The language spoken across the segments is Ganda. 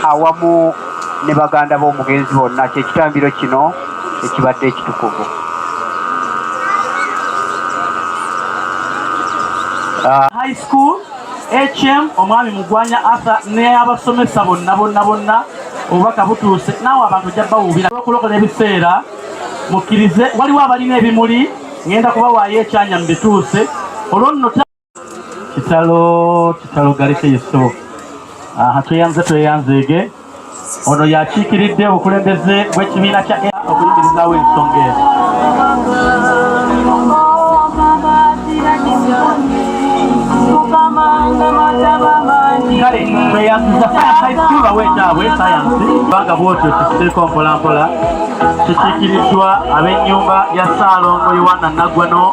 awamu ne baganda b'omugenzi bonna kyekitambiro kino ekibadde ekitukuvu ah. high school hm omwami mugwanya arthur neabasomesa bonna bonna bonna obubaka butuuse naawe abantu ojja bawuubira okulokola ebiseera mukkirize waliwo abalina ebimuli ngenda kubawaayo ekyanya mu bituuse olwo nno kitalo kitalo galeke yesu aha tweyanze tweyanzeege ono yakiikiridde obukulembeze bw'ekibiina kya okuyimirizaawo ensonga eno kale tweyanziza sayansaisiba wekyabwe sayansi kubanga bwotyo kisiiko mpolampola kikiikiriddwa ab'ennyumba ya ssaalongo yowanna naggwano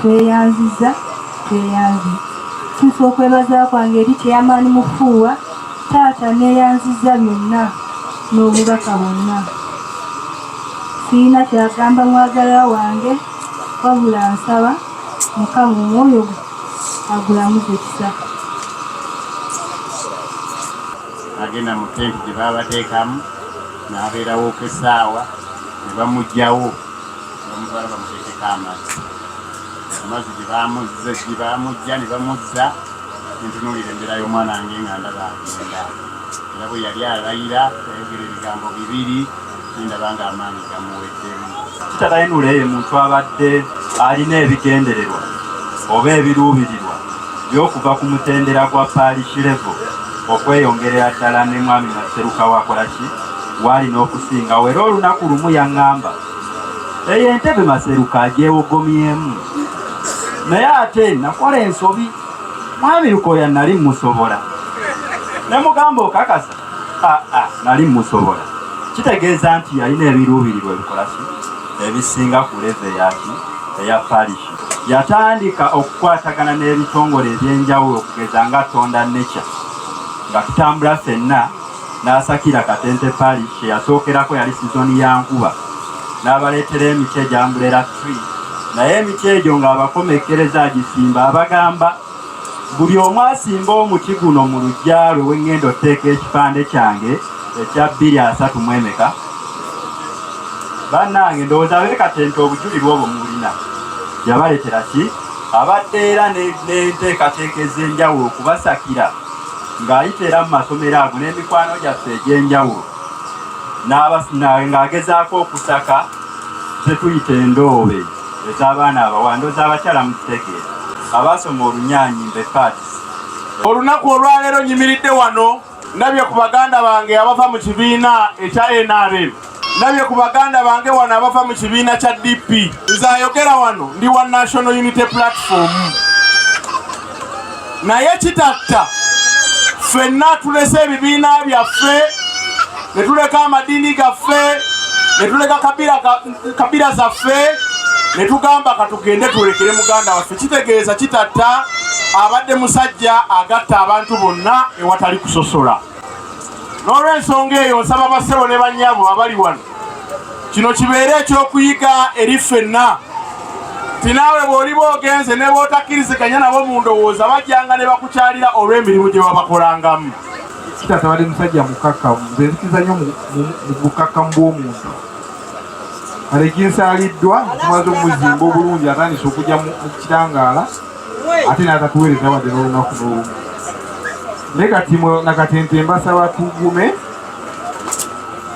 Tweyanziza tweyanzi ntuusa okwebaza kwange eri Chairman Mufuuwa taata neyanziza byonna n'obubaka bwonna sirina kyagamba mwagalwa wange wabula nsaba mukama omwoyo gwe agulamuze kisa agenda mu tenti gye baabateekamu n'abeerawoko essaawa ne bamugyawo Omukazi bamuteekeko amazzi, amazzi gye baamuzze gye baamujja ne bamuzza entunuulira embeera y'omwana wange nga ndaba agenda era bwe yali alayira yayogera ebigambo bibiri nendaba nga amaanyi gamuweddemu. Kitalainula ye muntu abadde alina ebigendererwa oba ebiruubirirwa by'okuva ku mutendera gwa paalishi levo okweyongerera ddala ne mwami Naseruka wakolaki waalina okusingawo era olunaku lumu yaŋŋamba eyo entebe maseruka agyewogomyemu naye ate nakola ensobi mwami lukoya nali musobola nemugamba okakasa aa ah, ah, nali musobola kitegeeza nti yalina ebiruubirirwa ebikola ki ebisinga ku leve yaki eya parishi yatandika okukwatagana n'ebitongole eby'enjawulo okugeza nga tonda nature nga tutambula fenna n'asakira Katente Pali kye yasookerako yali sizoni ya nkuba n'abaleetera emiti egyambulera tree naye emiti egyo ng'abakomekkereza agisimba abagamba buli omu asimba omuti guno mu lujja lwe wengenda oteeka ekipande kyange ekya bbiri asatu mu emeka bannange ndowooza beekatenta obujulirwa obwo mubulina yabaletera ki abadde era n'enteekateeka ez'enjawulo okubasakira ng'ayita era mu masomero ago n'emikwano gyaffe egy'enjawulo ng'agezaako okusaka kyetuyita endoobe ez'abaana abawando z'abakyala mu kitegeera abaasoma olunyaanyi mbepaati olunaku olwaleero nyimiridde wano ndabye ku baganda bange abava mu kibiina ekya nrm ndabye ku baganda bange wano abava mu kibiina kya DP nze ayogera wano ndi wa National Unity Platform naye kitatta ffenna tulese ebibiina byaffe ne tuleka amadiini gaffe ne tuleka kabira zaffe ne tugamba katugende tulekere muganda waffe kitegeeza kitatta abadde musajja agatta abantu bonna ewatali kusosola n'olwensonga eyo nsaba bassebo ne bannyabo abali wano kino kibeere ekyokuyiga eri ffenna ti naawe bw'oliba ogenze ne bootakkiriziganya nabo mu ndowooza bajjanga ne bakukyalira olw'emirimu gye babakolangamu kitata bali musajja mukakkamu nze nzikiza nnyo mu bukakkamu bw'omuntu kale ginsaaliddwa okumaze omuzimba obulungi atandise okujja mu kitangaala ate naza kuweereza wadde n'olunaku n'olumu naye kati mwe nakatente mbasaba tugume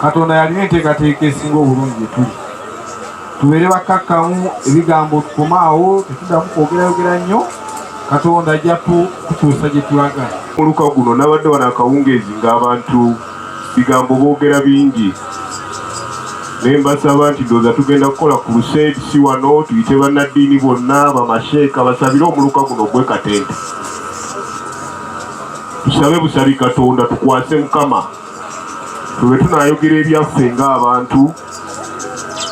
katonda yalina enteekateeka esinga obulungi gyetuli tubeere bakkakkamu ebigambo tukomaawo tetuddamu kwogerayogera nnyo katonda ajja kutuusa gye tulaga muluka guno nabadde wano akawungeezi ng'abantu Bigambo bogera bingi naye mbasaba nti ndowooza tugenda kukola ku luseedi si wano tuyite bannaddiini bonna bamasheeka basabire omuluka guno ogwe katente tusabe busabi katonda tukwase mukama twebe tunayogera ebyaffe ng'abantu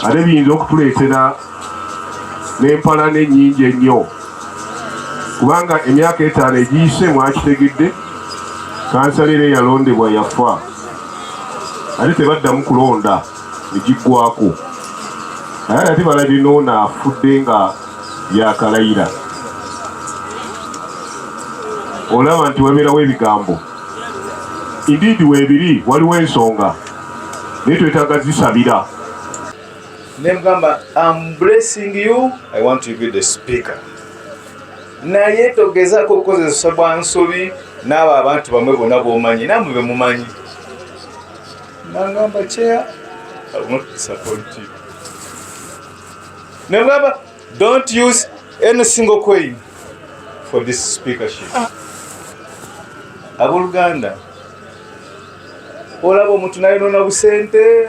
ate biyinza okutuleetera n'empalana ennyingi ennyo kubanga emyaka etaano egiyise mwakitegedde kansala era eyalondebwa yafa ate tebaddamu kulonda egiggwako naye ate balabye noona afudde nga yakalayira olaba nti wabeerawo ebigambo indiidi weebiri waliwo ensonga naye twetaaga zisabira nemugamba am blessing you i want to be the speaker naye togezako okukozesa bwa nsobi n'abo abantu bamwe bonna bomanyi namwe bemumanyi nangamba chair i will not disappoint you nemugamba don't use any single coin for this speakership ah. aboluganda olaba omuntu nayonona busente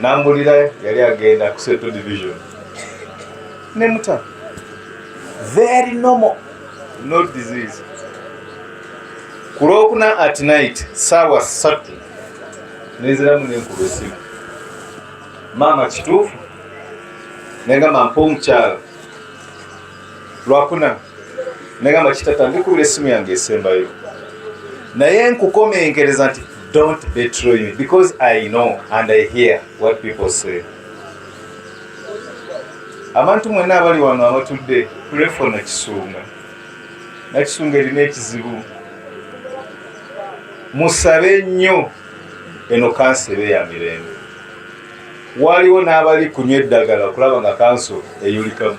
nambulira yali agenda ku seto division nemuta very normal no disease ku lwokuna at night saawa satu neziramu nenkuba esimu maama kituufu nengamba mpa omukyalo lwakuna nagamba kitata ndikubira esimu yange esembayo naye nkukomenkereza nti don't betray me because i know and i hear what people say abantu mwena abali wano abatudde kulefo nakisunga nakisunga erina ekizibu musabe nnyo eno kansa ebe ya mirembe waliwo n'abali kunywa eddagala okulaba nga kanso eyulikamu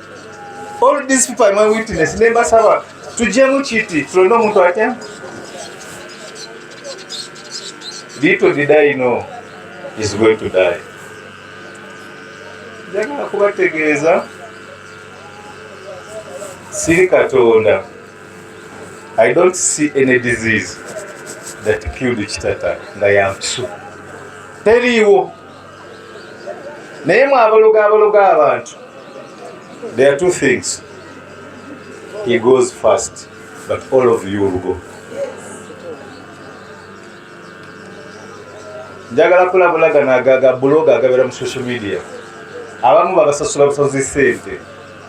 All these people are my witness. Nemba sawa. Tujemu chiti. Tulono mtu wake. Little did I know is going to die. Njagala kubategeeza siri Katonda. I don't see any disease that killed Kitata nga yampisu. Teriiwo. naye mwabaloga abaloga abantu there are two things he goes first but all of you will go njagala kulabulagana agaga buloga agabera mu social media abamu babasasula busozi sente